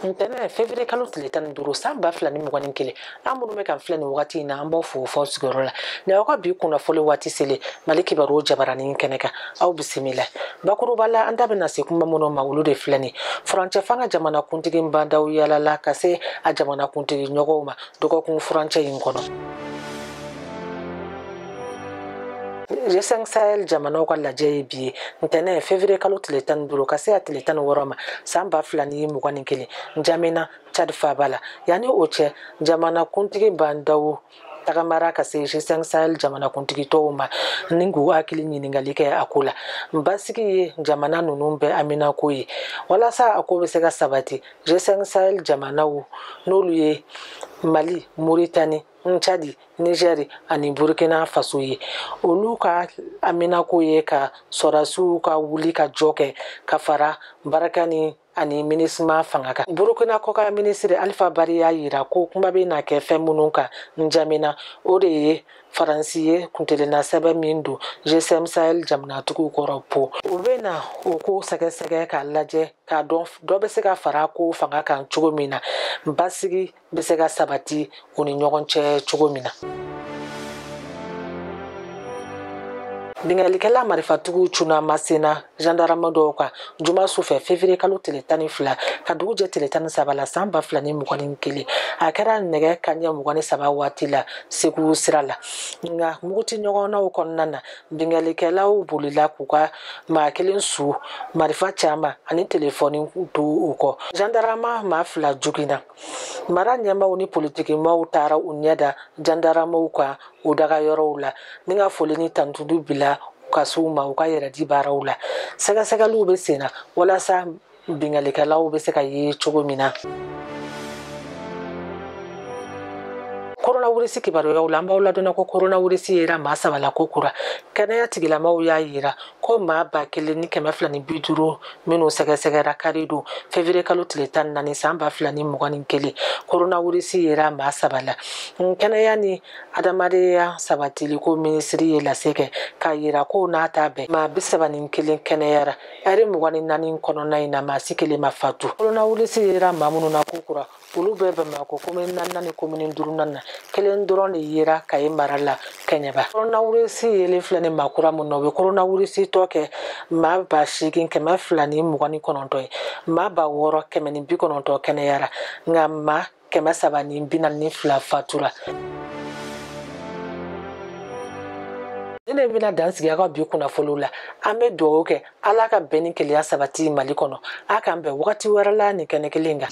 ntɛnɛ fevrier kalo tile tan ni duuru san ba fila ni mugan ni kelen aw minnu bɛ k'an filɛ nin wagati in na an b'aw fo f'aw sigiyɔrɔ la nin aw ka bi kunnafoli waati selen mali kibaru jabaranin kɛnɛ kan aw bisimila bakuruba la an da bɛna se kuma minnu ma olu de filɛ nin furancɛ fanga jamana kuntigi ba ndaw yaalala ka se a jamana kuntigi ɲɔgɔnw ma dɔgɔkun furancɛ in kɔnɔ G5 Sahel jamanaw ka lajɛ ye bi ye ntɛnɛn février kalo tile tan ni duuru ka se a tile tan ni wɔɔrɔ ma san ba fila ni mugan ni kelen Njamena Tchad faaba la yanni o cɛ jamanakuntigi Ba Ndaw tagamara ka se G5 Sahel jamanakuntigi tɔw ma ni k'u hakili ɲininkali kɛ a ko la basigi ye jamana ninnu bɛɛ haminako ye walasa a ko bɛ se ka sabati G5 Sahel jamanaw n'olu ye Mali Mauritanie cadi nizɛri ani burukina faso ye olu ka haminako ye ka sɔrasiw ka wuli ka jɔ kɛ ka fara barikani ani minusima fanga kan burukina kɔkan minisiri alifa bari y'a yira ko kuma bɛ na kɛ fɛn minnu kan njamina o de ye faransi ye kuntilenna sɛbɛn min don G5 sahel jamanatigiw kɔrɔ po u bɛ na o ko sɛgɛsɛgɛ k'a lajɛ k'a dɔn dɔ bɛ se ka fara ko fanga kan cogo min na basigi bɛ se ka sabati u ni ɲɔgɔn cɛ cogo min na binkannikɛla marifatigiw cunna masina zandarama dɔw kan juma su fɛ fevriye kalo tile tan ni fila ka dugu jɛ tile tan ni saba la san ba fila ni mugan ni kelen a kɛra nɛgɛ kaɲɛ mugan ni saba waati la segu sira la nka muguti ɲɔgɔnnaw kɔnɔna na binkannikɛlaw bolila k'u ka maa kelen su marifa caman ani telefɔni to u kɔ zandarama maa fila joginna mara ɲɛmaaw ni politikimaaw taara u ɲɛ da jandaramaw kan u daga yɔrɔw la ni ka foli ni tantudu bila ka se u ma u ka yɛrɛ di baaraw la sɛgɛsɛgɛliw bɛ sen na walasa binkalikɛlaw bɛ se ka ye cogo min na koronawirisi kibaruyaw la an b'aw ladɔnniya ko koronawirisi yera maa saba la ko kura kɛnɛya tigilamaw y'a yira ko maa ba kelen ni kɛmɛ fila ni bi duuru minnu sɛgɛsɛgɛra kari don fevriye kalo tile tan ni naani san ba fila ni mugan ni kelen koronawirisi yera maa saba la kɛnɛya ni hadamadenya sabatili ko minisiri ye lase kɛ k'a yira ko n'a t'a bɛn maa bi saba ni kelen kɛnɛyara ɛri mugan ni naani kɔnɔna in na maa si kelen ma fatu koronawirisi yera maa minnu na ko kura olu bɛɛ bamakɔ komini naaninan ni komini duurunan na kelen dɔrɔn de yera kaye mara la kɛɲɛba koronawirisi yelen filɛ nin maa kura min na o bɛ koronawirisitɔ kɛ maa ba seegin kɛmɛ fila ni mugan ni kɔnɔntɔn ye maa ba wɔɔrɔ kɛmɛ ni bi kɔnɔntɔn kɛnɛyara nka maa kɛmɛ saba ni bi naani ni fila fatura nin de bɛna dan sigi aw ka bi kunnafoniw la an bɛ dugawu kɛ ala ka bɛn ni kelenya sabati mali kɔnɔ a k'an bɛn wagati wɛrɛ la nin kɛnɛ kelen kan